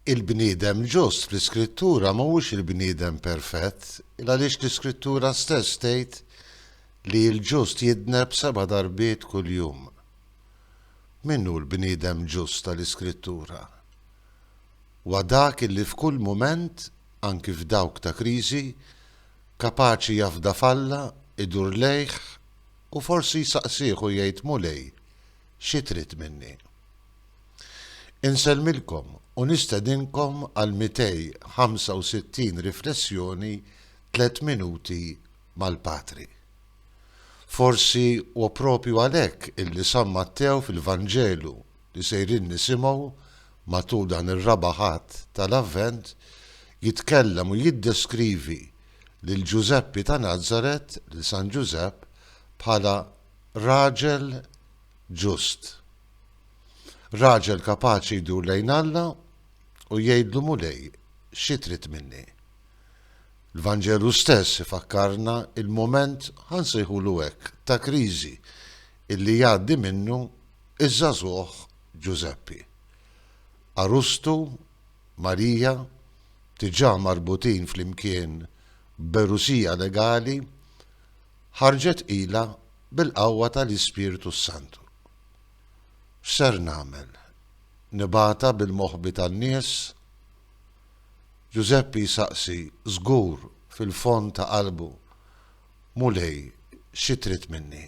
Il-bniedem ġust fl-Iskrittura ma huwiex il-bniedem perfett, il għaliex l-Iskrittura stess tgħid li l-ġust jidneb seba' darbiet kuljum. Min hu l-bniedem ġust tal-Iskrittura? Huwa dak illi f'kull mument, anki f'dawk ta' kriżi, kapaċi jafda f'Alla, idur lejh, u forsi jsaqsih u jgħid, Mulej, Xi trid minni? Insellmilkom u nistedinkom għal 265 riflessjoni Tliet Minuti mal-Patri. Forsi huwa proprju għalhekk illi San Mattew fil-Vanġelu li sejrin nisimgħu matul dan ir-Raba' Ħadd tal-Avvent jitkellem u jiddeskrivi lil Ġużeppi ta' Nazaret, lil San Ġużepp, bħala Raġel ġust. Raġel kapaċi jdur lejn Alla u jgħidlu Mulej, xi trid minni? L-Vanġelu stess ifakkarna il-mument, ħa nsejħulu hekk, ta' kriżi illi jgħaddi minnu ż-żagħżugħ Ġużeppi. Għarustu, Marija, diġà marbutin flimkien b'għerusija legali, Ħarġet qila bil-qawwa tal-Ispirtu s-Santu. X'ser nagħmel? Nibgħatha bil-moħbi tan-nies? Ġużeppi jsaqsi żgur fil-fond ta' qalbu, Mulej, xi trid minni?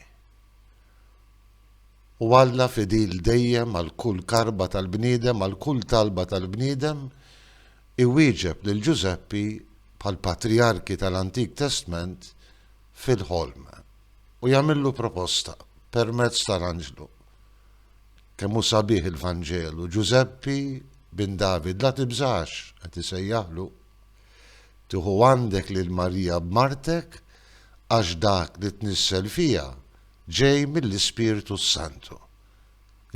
U Alla fidil dejjem għal kull karba tal-bniedem, għal kull talba tal-bniedem, iwieġeb lil Ġużeppi bħall-patrijarki tal-Antik Testment, fil-ħolm, u jagħmillu proposta, permezz tal-anġlu. Kemm hu sabiħ il-Vanġelu, Ġużeppi, bin David, la tibżax, qed isejjaħlu. Tieħu għandek lil Marija b'martek, għax dak li tnissel fiha ġej mill-Ispirtu s-Santu.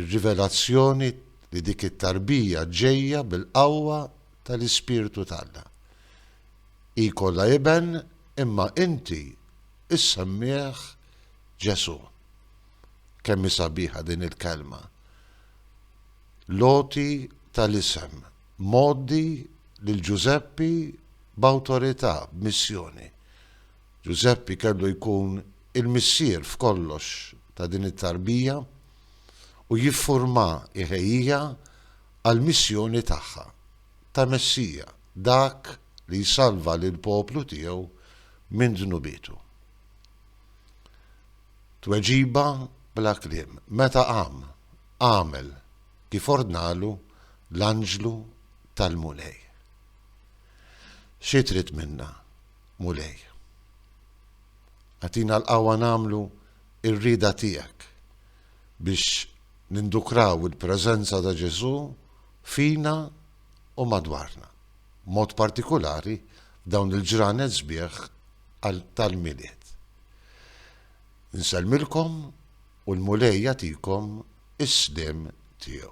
Ir-rivelazzjoni li dik it-tarbija ġejja bil-qawwa tal-Ispirtu t'Alla. Hi jkollha iben imma inti issemmih Ġesù. Kemm hi sabiħa din il-kelma! L-għoti tal-isem, mgħoddi lil Ġużeppi b'awtorità, b'missjoni. Ġużeppi kellu jkun il-missier f'kollox ta' din it-tarbija u jiffurmha, iħejjiha għall-missjoni tagħha ta' Messija, dak li jsalva lill-poplu tiegħu minn dnubietu. Tweġiba bla kliem, meta qam, għamel kif ordnalu l-anġlu tal-Mulej. Xi trid minna, Mulej? Agħtina l-qawwa nagħmlu ir-rieda tiegħek biex nindukraw il-preżenza ta' Ġesù fina u madwarna, b'mod partikulari f'dawn il-ġranet sbieħ tal-Milied. Insellmilkom u l-Mulej jagħtikom is-sliem tiegħu.